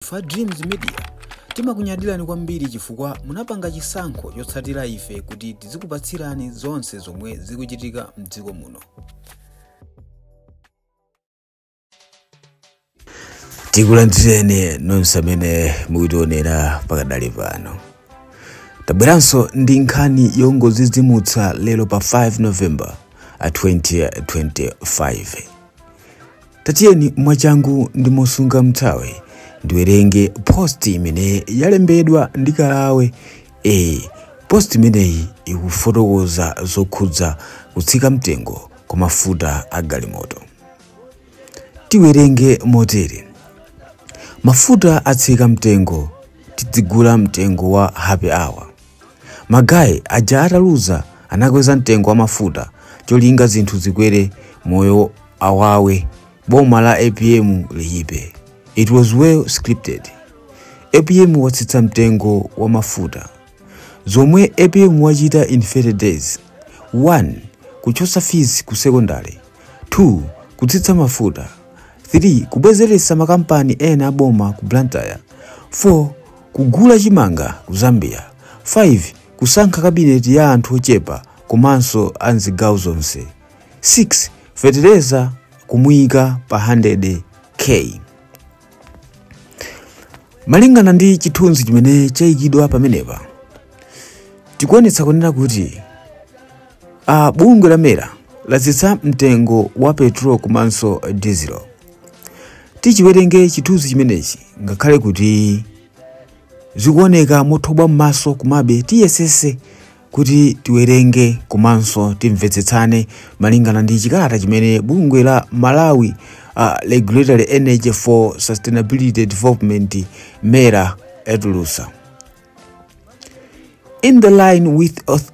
Ife a Dreams Media timakunyadirani kwambiri chifukwa munapanga chisankho chotsatira ife kuti tizikupatsirani zonse zomwe zikuchitika mdziko muno. tikulandireni nonse amene mukutionera pakadali pano tabweranso ndi nkhani yongodzidzimutsa lero pa 5 november a 2025 Tatiyeni mwachangu ndi mosunga mthawi ndiwerenge post imene yalembedwa ndi Kalawe. E, post imeneyi ikufotokoza zokhudza kutsika mtengo kwa mafuta a galimoto. Tiwerenge motere. Mafuta atsika mtengo, tidzigula mtengo wa happy hour. Ma guy aja ataluza anakweza mtengo wa mafuta cholinga zinthu zikwere moyo awawe boma la apm liipe it was well scripted apm watsitsa mtengo wa mafuta zomwe apm wachita in 30 days 1 kuchotsa fees ku secondary 2 kutsitsa mafuta 3 kubwezeretsa makampani ena aboma ku blantyre 4 Kugula chimanga ku Zambia, 5 Kusankha kabineti ya anthu ochepa komanso a m'zigawo zonse, 6 Fetereza kumuika pa 100 K. Malingana ndi chithunzi chimene chayikidwa pamenepa, chikuonetsa kunena kuti bungwe la mera latsitsa mtengo wa petrol komanso dizilo. tichiwerenge chithunzi chimenechi ngakhale kuti zikuoneka mothobwa m'maso komabe tiyesese kuti tiwerenge komanso timvetsetsane malingana ndi chikalata chimene bungwe la malawi uh, regulatory energy for sustainability development mera yatulutsa in the line with auth-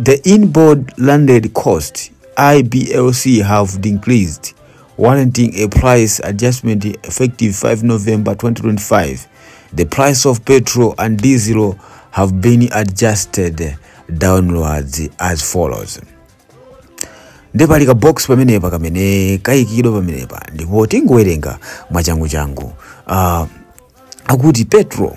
The inboard landed cost, IBLC have decreased, warranting a price adjustment effective 5 November 2025. The price of petrol and diesel have been adjusted downwards as follows. nde pali ka box pamenepa kamene kayikidwa pamenepa ndipo tingowerenga mwachangu changu uh, akuti petro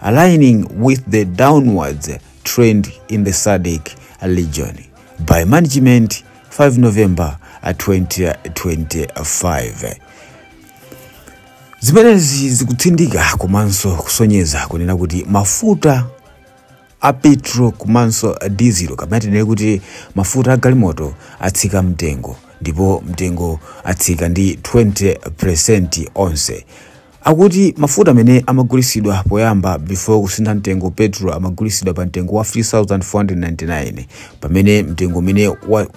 aligning with the downwards trend in the SADC region by management 5 November 2025. Zimenezi zikutsindika komanso kusonyeza kunena kuti mafuta a petro komanso dizilo kapena tinene kuti mafuta a galimoto atsika mtengo ndipo mtengo atsika ndi 20% onse Akuti mafuta amene amagulisidwa poyamba before kusintha mtengo petrol amagulisidwa pa mtengo wa 3499 pamene mtengo umene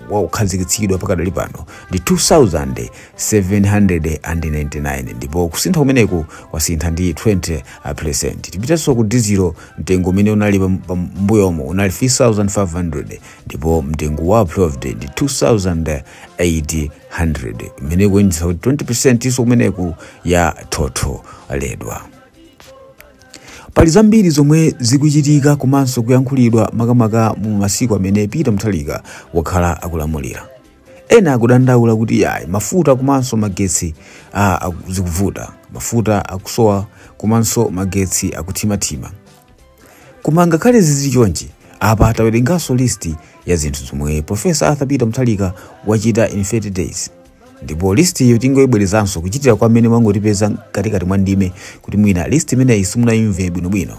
wakhazikitsidwa pakadali pano ndi 2799 ndipo kusintha kumeneku kwasintha ndi 20%. Tipitenso ku dizilo mtengo umene unali pambuyomo unali 3500 ndipo mtengo wa approved ndi 2000 800 imene ikuonetsa kuti 20% iso kumeneku yathotholedwa pali zambiri zomwe zikuchitika komanso kuyankhulidwa makamaka mu masiku amene peter mutharika wakhala akulamulira ena akudandaula kuti yayi mafuta komanso magetsi ah, aku- zikuvuta mafuta akusowa komanso magetsi akuthimathima Koma ngakhale zili chonchi, apa tawerenganso list ya zinthu zomwe Professor Arthur Peter Mutharika wachita in 30 days ndipo list iyo tingoibwerezanso kuchitira kwa amene mwangotipeza mkatikati mwa ndime kuti mwina list imeneyi simunayimve bwinobwino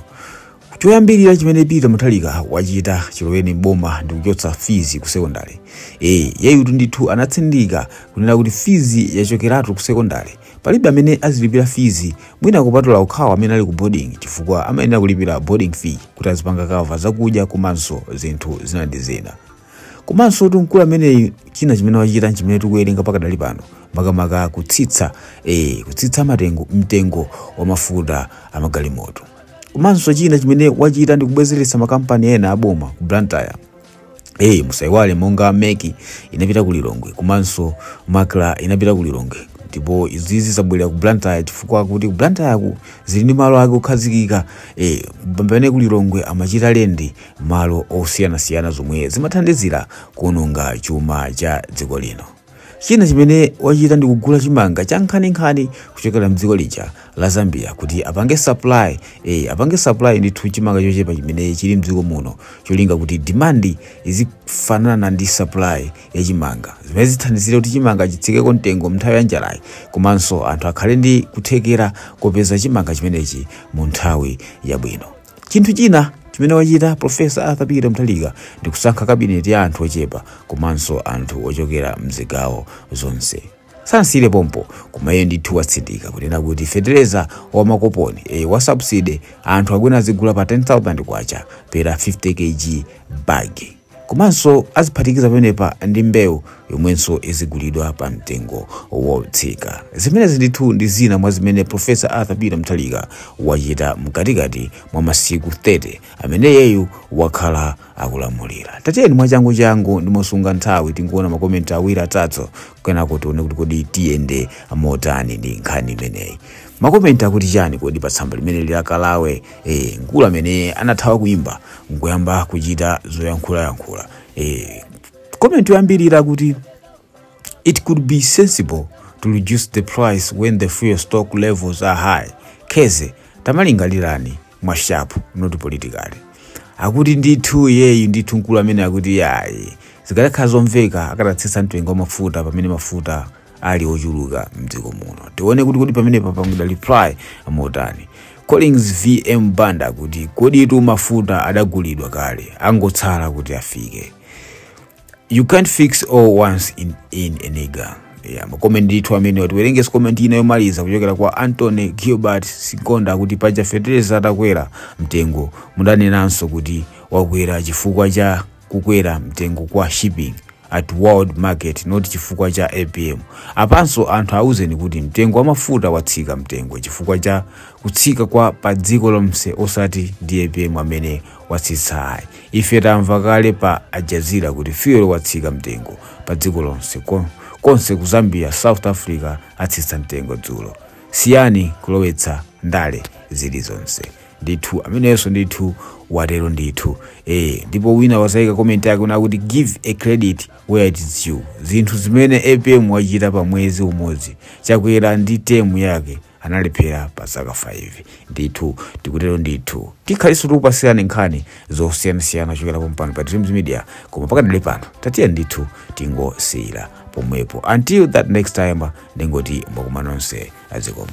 choyambirira chimene peter mutharika wachita chiloweni m'boma ndi kuchotsa fizi ku sekondale ee yeyutu ndithu anatsindika kunena kuti fizi yachokeratu ku sekondale Palibe amene azilipira fees mwina kupatula okhawo amene ali ku boarding chifukwa amayenera kulipira boarding fee kuti azipanga cover zakudya komanso zinthu zina ndi zina. Komansotu mkulu ameneyu china chimene wachita nchimene tikuwerenga pakadali pano makamaka kutsitsa eh, kutsitsa matengo mtengo wa mafuta a magalimoto. Komanso china chimene wachita ndi kubwezeretsa makampani ena aboma ku Blantyre. Eh, musaiwale monga MEC inapita ku lilongwe komanso MACRA inapita ku lilongwe ndipo izizi zabwerera ku blantyre chifukwa kuti ku blantyre ku zili ndi malo ake okhazikika eh, pamene ku lilongwe amachita rent malo osiyanasiyana zomwe zimathandizira kuononga chuma cha dziko lino China chimene wachita ndi kugula chimanga cha nkhaninkhani kuchokera mdziko lija la Zambia kuti apange supply eh apange supply ndithu chimanga chochepa chimene chili mdziko muno cholinga kuti demand izifanana ndi supply ya chimanga zimene zithandizire kuti chimanga chitsikeko mtengo mnthawi ya njalayi komanso anthu akhale ndi kuthekera kopeza chimanga chimenechi mu nthawi yabwino. Chinthu china chimene wachita Professor Arthur Peter Mutharika ndi kusankha kabineti ya anthu ochepa komanso anthu ochokera m'zigawo zonse. Sanasiyire pompo, koma iye ndithu watsindika kunena kuti fetereza wa makoponi, ee, wa subsidy, anthu akhale azigula pa 10,000 kwacha per 50 kg bag. Komanso aziphatikiza pamenepa ndi mbewu yomwenso izigulidwa pa mtengo wotsika. Zimenezi ndithu ndi zina mwa zimene Professor Arthur Peter Mutharika wachita mkatikati mwa masiku 30 amene iyeyu wakhala akulamulira. Tatiyeni mwachanguchangu ndi mosunga nthawi tingoona ma comment awiri atatu kenako tione kuti kodi tiyende motani ndi nkhani imeneyi. Ma comment akuti chani kodi pa tsamba limeneli la Kalawe? e, mkulu amene anathawa kuimba nkuyamba kuchita zoyankhulayankhula e, komenti yoyambirira kuti it could be sensible to reduce the price when the fuel stock levels are high kheze tamalingalirani mwashapu not politically akuti ndithu iyeyu ndithu mkulu amene akuti yayi zikadakhala zomveka akadatsitsa mtengo wa mafuta pamene mafuta ali ochuluka mdziko muno tione kuti kodi pamene papangidwa reply amotani collins vm banda kuti koditu mafuta adagulidwa kale angotsala kuti afike you can't fix all once in, in a nigga yeah, makomenti ndithu amenewa tiwerengenso komenti ina yomaliza kuchokera kwa anthony gilbert sikonda akuti paja fetereza atakwera mtengo mudanenanso kuti wakwera chifukwa cha kukwera mtengo kwa shipping at world market not chifukwa cha apm apanso anthu auzeni kuti mtengo wa mafuta watsika mtengo chifukwa cha kutsika kwa pa dziko lonse osati ndi apm amene watsitsa ayi ife tamva kale pa al jazeera kuti fuel watsika mtengo pa dziko lonse Kon- konse ku zambia south africa atsitsa mtengo dzulo siyani kulowetsa ndale zilizonse ndithu ameneyonso ndithu watero ndithu eh ndipo wina wazaika comment yake kunena kuti give a credit where it is due zinthu zimene apm wachita pa mwezi umodzi chakwera ndi timu yake analephera pa zaka 5 ndithu tikutero ndithu tikhalinso tikukupasirani nkhani zosiyanasiyana chokera pompano pa dreams media koma pakadali pano tatiyeni ndithu tingosiyira pomwepo until that next time ndingoti mmakwana nonse zikomo